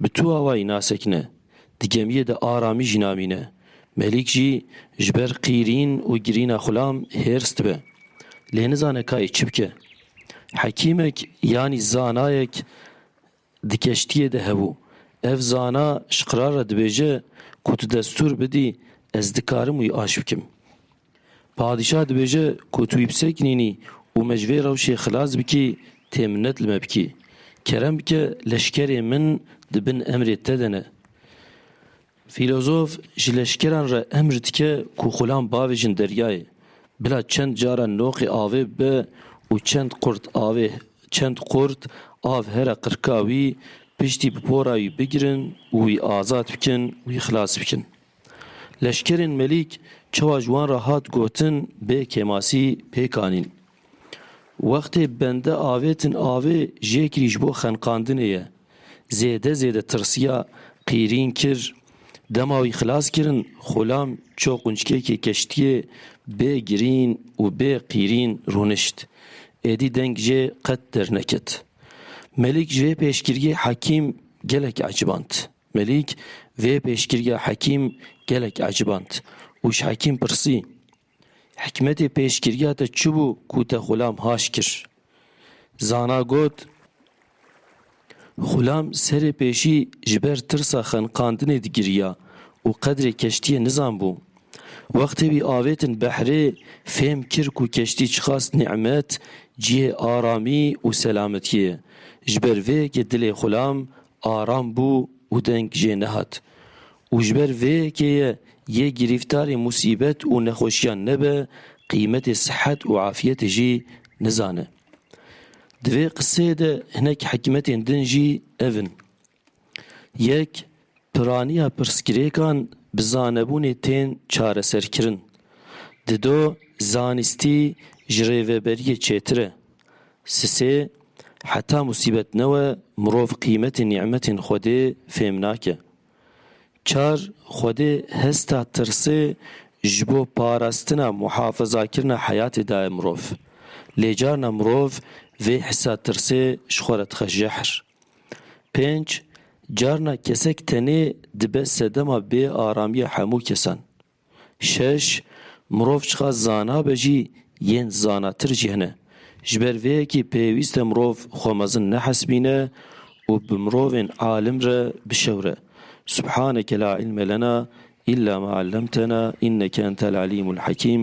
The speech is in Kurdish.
Bi tu awayî nasekine. Di gemiyê de aramî jî namîne. Melîk jî ji ber qîrîn û girîna xulam hêrs dibe. Lê nizane kayê çi bike. Hekîmek yanî zanayek di keştiyê de hebû. Ev zana ji qirar re dibêje ku tu destûr bidî ez dikarim wî aş bikim. Padîşah dibêje ku tu wî bi ser kinînî û me ji vê rewşê xilas bikî tê minnet li me bikî. Kerem bike leşkerê min di bin emrê te de ne. Fîlozof ji leşkeran re emr dike ku xulan bavêjin deryayê. Bila çend caran noqê avê bibe û çend qurt avê çend qurt av here qirka wî piştî bi pora wî bigirin û wî azad bikin, wî xilas bikin. Leşkerên Melîk çawa ji wan re hat gotin bê kêmasî pêk anîn. Wextê bende avêtin avê jêkirî ji bo xenqandinê ye. Zêde zêde tirsiya, qîrîn kir. Dema wî xilas kirin, xulam ço qunçkêkê keştiyê bê girîn û bê qîrîn rûnişt. Êdî deng jê qet derneket. Melîk ji vê pêşgiriyê Hekîm gelek eciband. Melîk vê pêşgiriya Hekîm gelek eciband û ji Hekîm pirsî, Hikmetê pêşgiriya te çi bû ku te Xulam haş kir? Zana got, Xulam serê pêşî ji ber tirsa xeniqandinê digiriya û qedrê keştiyê nizanbû. Wextê wî avêtin behrê fêm kir ku keştî çiqas nîmet, cihê aramî û selametiyê ye. Ji ber vê yekê dilê Xulam Aram bû û deng jê nehat. Û ji ber vê yekê ye yê girîftarê musîbet û nexweşiyan nebe, qîmetê sihet û afiyetê jî nizane. Di vê qiseyê de hinek hikmetên din jî ev in. Yek, piraniya pirsgirêkan bi zanebûnê tên çareserkirin. Dido, zanistî ji rêveberiyê çêtir e. Sisê, Heta musîbet newe mirov qîmetê nîmetên Xwedê fêm nake. Çar, Xwedê hesta tirsê ji bo parastina muhafezakirina heyatê daye mirov. Lê carna mirov vê hisa tirsê ji xwe re dixe jehr. Pênc, Carna kesek tenê dibe sedema bêaramiya hemû kesan. Şeş, Mirov çiqa zana be jî yên zanatir jî hene. Ji ber vê yekê pêwîst e mirov xwe mezin nehesibîne û bi mirovên alim re bişewre. Subhaneke la ilme lena illa ma allemtena inneke entel alîmul hekîm